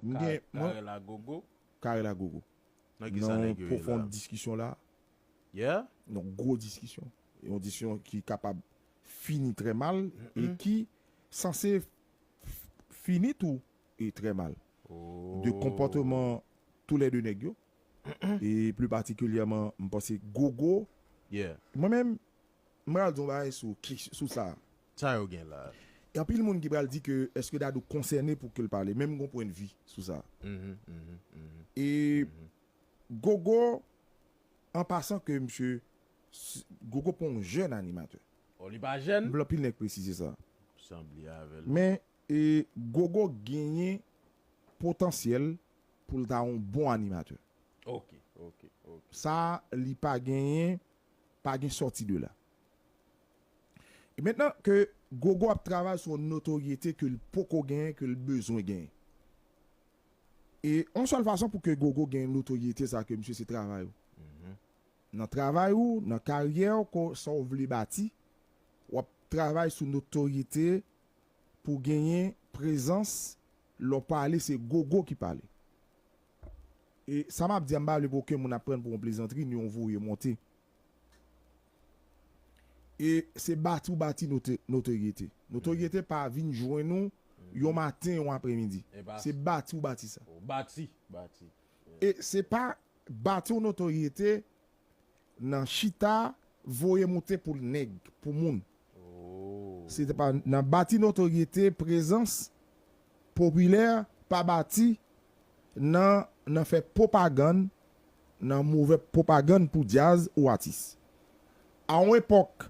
M gen, mwen. Carel a gogo. Carel a gogo. Nan ki sa nèg yo ye la? Nan yon pwofond diskisyon la. Yeah? Yon gwo diskisyon. Yon diskisyon ki kapab fini trè mal e ki sanse fini tou e trè mal. De konpòteman tou lè 2 nèg yo e pli patikilyèman m panse gogo. Yeah. Mwen menm, M pral di yon bagay sou kes sou sa. Sa yo gen la. Gen anpil moun ki pral di ke eske Dadou konsène pou kel pale men m gon pwen de vi sou sa. E Gogo an pasan ke misye Gogo pa yon jèn animatè. Oh li pa jèn? M vle anpil nèg presize sa. Sanble avè l. Men Gogo genyen potansyèl pou l ta yon bon animatè. Ok ok ok. Sa li pa genyen Pa gen sòti de la. E mentnan ke Gogo ap travay sou yon notoryete ke l poko genyen, ke l bezwen genyen. E yon sèl fason pou ke Gogo gen notoryete sa ke misye se travay ou. Nan travay ou, nan karyè ou ke sa ou vle bati, w ap travay sou notoryete pou genyen prezans lè w pale se Gogo ki pale. E sa map di a m pa vle pou oken moun ap prann pou yon plezantri ni yon voye monte. E se bati ou bati notoryete. Notoryete pa vin jwenn ou yon maten, yon apremidi. Se bati ou bati sa. E se pa bati yon notoryete. Nan chita voye moute pou l nèg, pou moun. Se te pa nan bati notoryete, prezans, popilè, pa bati nan nan fè pwopagann, nan move pwopagann pou djaz ou atis. A yon epòk,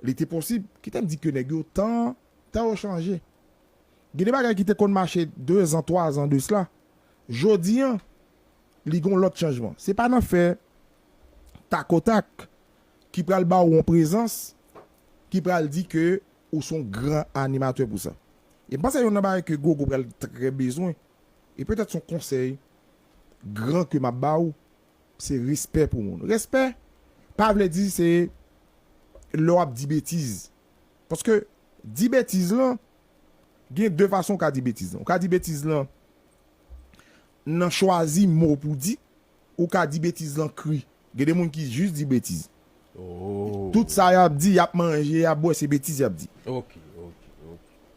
li te posib, ki te di ke nèg yo tan, tan yo chanje. Gen de bagay ki te konn mache dezan, twazan de sla, jodi an, li gen yon lòt chanjman. Se pa nan fè takotak ki pral ba ou yon prezans ki pral di ke ou se yon gran animatè pou sa. E m panse youn nan bagay ke Gogo pral trè bezwen, e petèt se yon konsèy gran ke m ap ba ou, se respè pou moun. Respè pa vle di se lè w ap di betiz. Paske di betiz lan, gen de fason ou ka di betiz lan. Ou ka di betiz lan Nan chwazi mo pou di, ou ka di betiz lan kri. Gen de moun ki jis di betiz. Tout sa y ap di, y ap manje, y ap bwè, se betiz y ap di.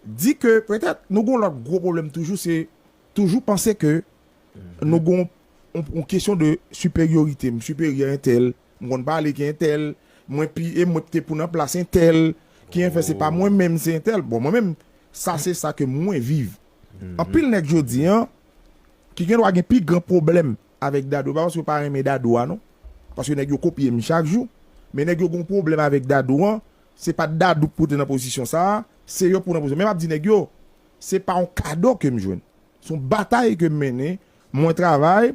Di ke petèt nou gen yon lòt gwo pwoblèm toujou, se toujou panse ke nou gen yon kesyon de siperyorite. M siperyè entèl, m konn pale ke entèl, mwen pi e mwen te pou nan plas entèl, ki en fè se pa mwen menm, se entèl. Bon, mwen menm, sa se sa ke mwen viv. Anpil nèg jodi an, ki gen dwa gen pi gran pwoblèm avèk Dadou, pa paske yo pa renmen Dadou a non, paske nèg yo kopye m chak jou, men nèg yo gen yon pwoblèm avèk Dadou an, se pa t Dadou k pote m nan pozisyon sa a, se yo k pou nan pozisyon, men m ap di nèg yo, se pa yon kado ke m jwenn, se yon batay ke m mennen, mwen travay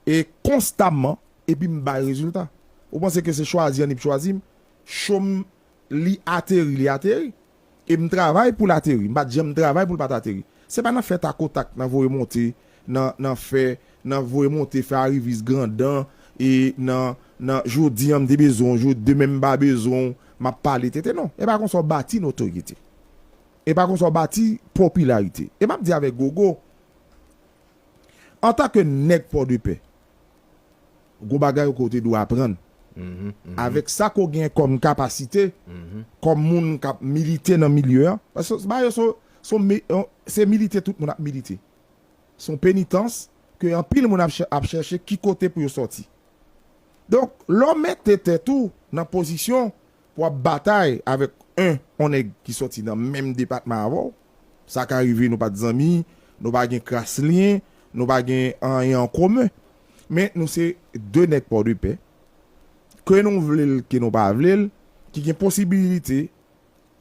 e konstamman, epi m bay rezilta. Ou panse ke se chwazi an li p chwazi m, cho m li ateri li ateri. E m travay pou l ateri. M pa t janm travay pou l pa t ateri. Se pa nan fè takotak, nan voye monte, nan nan fè, nan voye monte, fè arivis grandan, e nan nan jodi an m te bezwen w, jo demen m pa bezwen w, m ap pale tenten. Non, e pa konsa w bati notoryete. E pa konsa w bati popilarite. E m ap di avèk Gogo, antanke nèg Pòdepè, Gwo bagay ke w te dwe aprann. Avèk sa ke w gen kòm kapasite, kòm moun k ap milite nan milye an, paske ba yo se milite tout moun ap milite. Se yon penitans ke anpil moun ap chèche ki kote pou yo sòti. Donk, lè w mete tèt ou nan pozisyon Pou ap batay avèk 1 on nèg ki sòti nan menm depatman avè w, sa ka rive nou pa t zanmi, nou pa gen kras lyen, nou pa gen anyen an komen, men nou se 2 nèg Pòdepè, ke nou vle l ke nou pa vle l, ki gen posibilite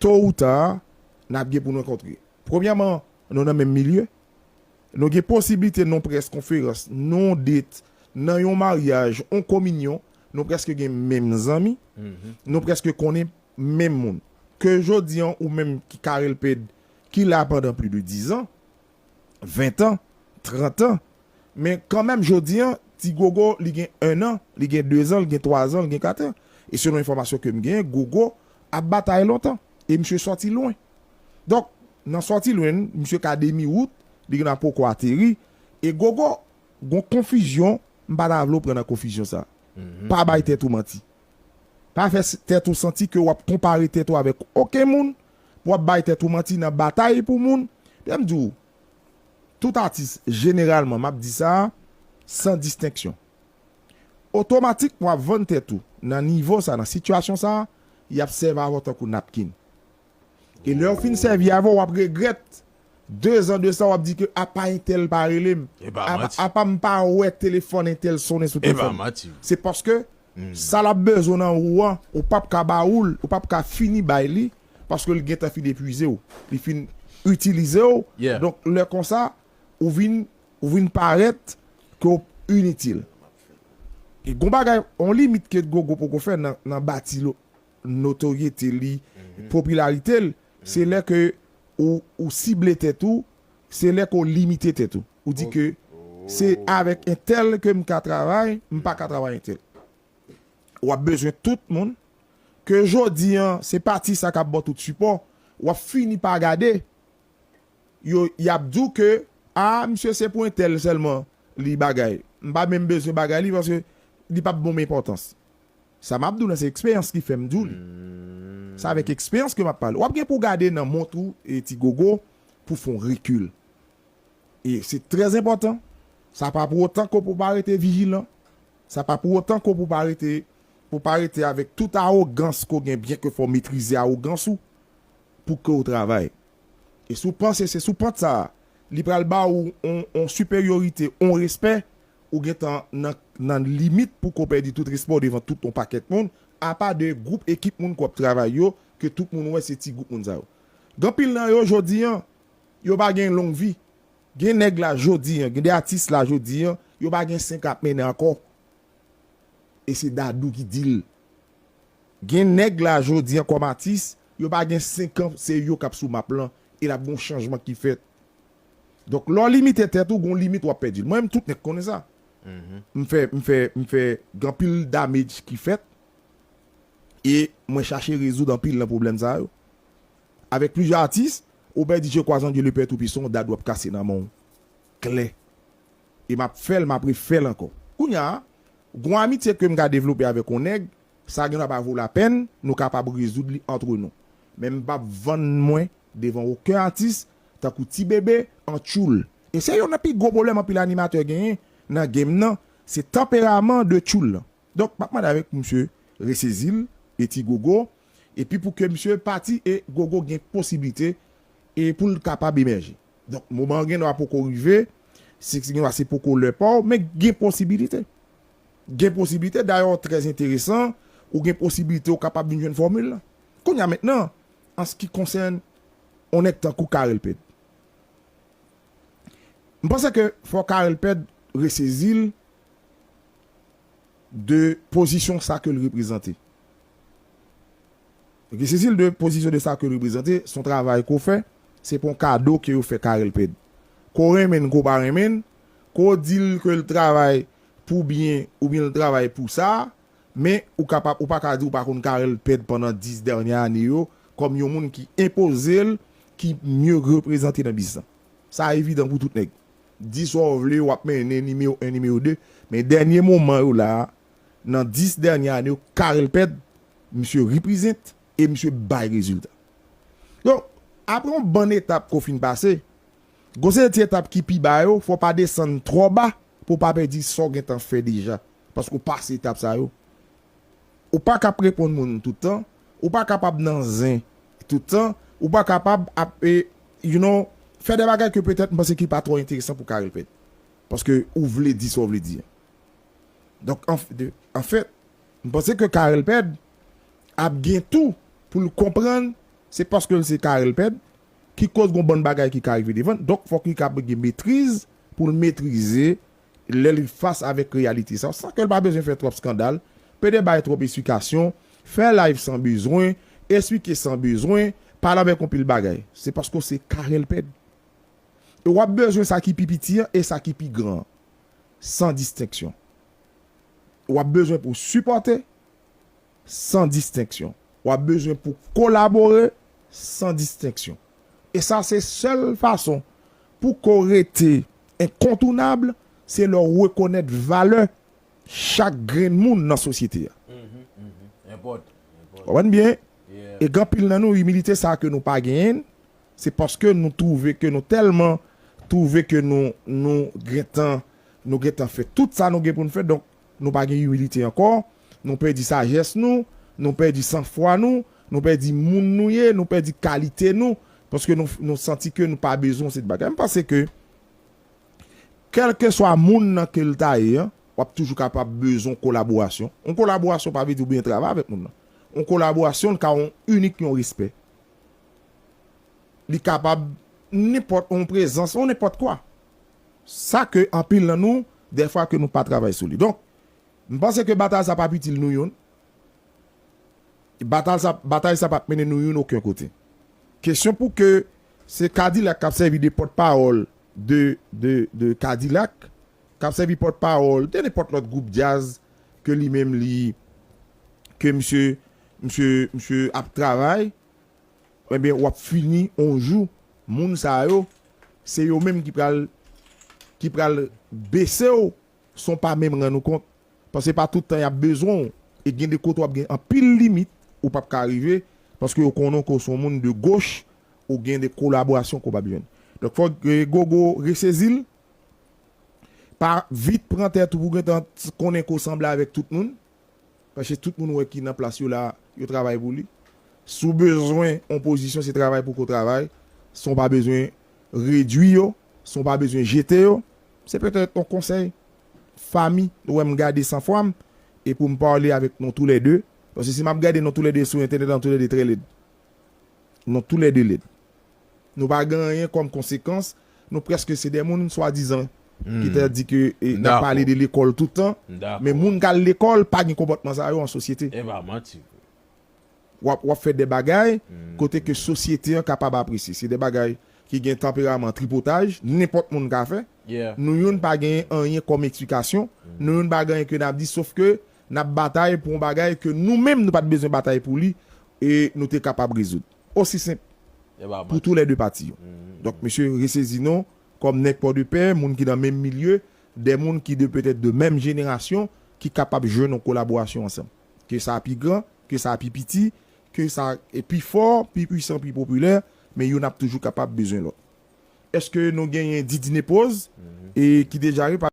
to ou ta, n ap gen pou n rankontre. Premyèman, nou nan menm milye, Nou gen posiblite non près konferans, non det, nan yon maryaj, yon kominyon, nou prèske gen menm zanmi, nou prèske konnen menm moun. Ke jodi an ou menm ki Carel Ped ki la pandan pli de dizan, ventan, trantan, men kanmenm jodi an ti Gogo li gen ennan, li gen dezan, li gen twazan, li gen katan. E selon enfòmasyon ke m gen, Gogo ap batay lontan e misye sòti lwen. Donk, nan sòti lwenn, misye ka demi wout, li gen dwa poko ateri, e gogo, gon konfizyon, m pa ta vle w pran nan konfizyon sa. Pa bay tèt ou manti. Pa fè tèt ou santi ke w ap konpare tèt ou avèk oken moun, pou w ap bay tèt ou manti nan batay pou moun. Lè m di w, tout atis, jeneralman, m ap di sa, san distenksyon. Otomatik, w ap vann tèt ou, nan nivo sa, nan sitiyasyon sa, y ap sèv avè w tankou napkin. E lèw fin sèvi avèl wap regrèt de zan de sa wap di ke apa entèl pa relem apa m pa wè telefòn entèl sonnen sou telefòn se paske sa lap bezwen nan ou an ou pap ka ba oul ou pap ka fini bay li paske li gentan fin epwizew li fin itilizew donk lè konsa ou vin ou vin parèt ke ou initil e gon bagay on limit ke gogo poko fè nan bati lòt. notoryete li, popilarite l, se lè ke ou ou sible tèt ou, se lè ke w limite tèt ou. Ou di ke se avèk entèl ke m ka travay, m pa ka travay entèl. Ou ap bezwen tout moun, ke jodi an se pati sa k ap ba w tout sipò, w ap fini pa gade yo, y ap di w ke a misye se pou entèl sèlman li bagay. M pa menm bezwen bagay li paske li p ap ban m enpòtans. Sa map di w lan se eksperyans ki fèm di w li. Se avèk eksperyans ke map pale. Wap gen pou w gade nan mont ou e ti gogo pou w fè yon rekil. E se trè enpòtan. Sa pa pou otan ke w pa rete vijilan. Sa pa pou otan ke w pa rete ke w pa rete avèk tout awogans ke w gen byen ke fò w metrize awogans ou pou ke w travay. E si w panse se sou pant sa a li pral ba ou yon siperyorite, yon respè, Ou gentan nan nan limit pou ke w pèdi tout respè w devan tout yon pakèt moun, apa de gwoup ekip moun ke w ap travay yo, ke tout moun wè se ti gwoup moun sa yo. Gen anpil nan yo jodi an, yo pa gen long vi. Gen nèg la jodi an, gen de atis la jodi an, yo pa gen sen ke ap mennen ankò. E se Dadou ki di l. Gen nèg la jodi an kòm atis, yo pa gen senkan se yo k ap sou map lan e l ap gen yon chanjman ki fèt. Donk lè w limite tèt ou, gen yon limit w ap pèdi l. Mwen menm tout nèg konnen sa. M fè, m fè, m fè gen anpil damage ki fèt e mwen chache rezoud anpil nan pwoblèm sa yo avèk plizyè atis. Obè di je kwa zan Dye le pè tou pisan yon dad w ap kase nan men w klè e m ap fè l, m ap refè l ankò. Kounya a, gen yon amitye ke m ka devlope avèk yon nèg, sa gendwa pa vo lapèn, nou kapab rezoud li antre nou. Men m p ap vann mwen devan oken atis tankou ti bebe an tchoul e se yon nan pi gwo pwoblèm anpil animatè genyen nan game nan se tanperaman de tchoul lan donk map mande avèk pou misye resezil e ti gogo epi pou ke misye pati e gogo gen posiblite e poul kapab emèje donk moman an gen dwa poko rive se gen dwa se poko lè paw men gen posibilite gen posiblite dayè w trè enteresan ou gen posiblite ou kapab vin jwenn fòmil lan. Kounye a mentnan, an s ki konsèn on nèg tankou Carel Pèd, m panse ke fò Carel Pèd resezi l de pozisyon sa ke l reprezante. Resezi l de pozisyon de sa ke l reprezante, s on travay ke w fè, se pa on kado ke yo fè Carel Pèd. Ke w renmen n, ke w pa renmen n, ke w di l ke l travay pou byen oubyen l travay pou sa, Men, ou ka pa, ou pa ka di ou pa konn Carel Pèd pandan 10 dènyè ane yo, kòm yon moun ki enpoze l, ki mye reprezante nan biznis lan. Sa evidan pou tout nèg. Di sa w vle, w ap mennen nimewo 1, nimewo 2, men dènye moman yo la a, nan 10 dènyè ane yo, Carel Pèd, misye represent e misye bay rezilta. Donk, apre yon bann etap ke w fin pase, gen yon seri de ti etap ki pi ba yo, fò w pa desann twò ba pou w pa pèdi sa w gentan fè deja paske w pase etap sa yo. Ou pa ka ap reponn moun tout tan, ou pa kapab nan zen tout tan, ou pa kapab ap you know fè de bagay ke petèt m panse ki pa twò enteresan pou w ka repèt paske ou vle di sa w vle di an. Donk anfèt m panse ke Carel Pèd ap gen tou pou l konprann se paske l se Carel Pèd ki koz gon bann bagay ki ka rive devan l donk fòk li ka gen metriz pou l metrize lè li fas avèk reyalite sa san ke l pa bezwen fè twòp skandal, pede bay twòp esplikasyon, fè live san bezwen, esplike san bezwen, pale avèk yon pil bagay. Se paske w se Carel Ped. E w ap bezwen sa ki pi piti an e sa ki pi gran an, san distenksyon. W ap bezwen pou w sipòte. San distenksyon. W ap bezwen pou kolabore san distenksyon. E sa se sèl fason pou ke w rete enkontounab, se lè w rekonèt valè chak grenn moun nan sosyete a. Konprann byen? E gen anpil nan nou, imilite sa a ke nou pa genyen, se paske nou twouve ke nou tèlman twouve ke nou, nou gentan, nou gentan fè tout sa nou gen pou nou fè, donk Nou pa gen imilite ankò, nou pèdi sajès nou, nou pèdi san fwa nou, nou pèdi moun nou ye, nou pèdi kalite nou, paske nou santi ke nou pa bezwen yon seri de bagay. M panse ke kèlkeswa moun nan ke l ta ye an, w ap toujou kapab bezwen yon kolaborasyon. Yon kolaborasyon pa vle di ou byen travay avèk moun nan. Yon kolaborasyon l ka yon inik yon respè. Li kapab nenpòt yon prezans, yon nenpòt kwa. Sa ke anpil nan nou, dèfwa ke nou pa travay sou li. Donk, m panse ke batay sa pap itil nou youn. Batal sa, batay sa pap mennen nou youn oken kote. Kesyon pou ke se Kadilak kap sèvi de pòt pawòl de, de, de Kadilak, kap sèvi pòt pawòl de nenpòt lòt gwoup djaz ke li menm li, ke misye, misye, misye ap travay. Ebyen wap fini on jou moun sa yo se yo menm ki pral ki pral besew son pa menm rann ou kont paske pa tout tan yap bezwen w e gen de kote wap gen anpil limit ou pap ka rive paske yo konnen w ke w son moun de goch ou gen de kolaborasyon ke w pap jwenn donk fok gogo resezil pa vit pran tèt ou pou gentan konnen ke w sanble avèk tout moun. Paske tout moun wè ki nan plas yo la, yo travay pou li. Si w bezwen yon pozisyon, se travay pou ko travay, san w pa bezwen redwi yo, san w pa bezwen jete yo. Se petèt yon konsèy fanmi nou wè m gade san fwa m e pou m pale avèk nou tou lè de. Paske si m ap gade nou tou lè de sou entènèt la nou tou lè de trè lèd. Nou tou lè de lèd. nou pa gen anyen kòm konsekans, nou prèske se de moun swadizan ki ta di ke n ap pale de lekòl tout tan, men moun k al lekòl pa gen konpòtman sa yo an sosyete. W ap fè de bagay kote ke sosyete an kapab apresye. Se de bagay ki gen tanperaman tripotaj, nenpòt moun ka fè. Nou youn pa gen anyen kòm eksplikasyon, nou youn pa gen anyen ke n ap di sof ke n ap batay pou yon bagay ke nou menm nou pa t bezwen batay pou li e nou te kapab rezoud. osi senp pou tou lè 2 pati yo. Donk mesye resezi non, kòm nèg Pòdepè, moun ki nan menm milye, 2 moun ki de petèt de menm jenerasyon ki kapab jwenn yon kolaborasyon ansanm. Ke sa pi gran, ke sa pi piti, ke sa pi fò, pi pwisan, pi popilè, men youn ap toujou kapab bezwen lòt. Eske nou genyen Didine Pose ki deja re.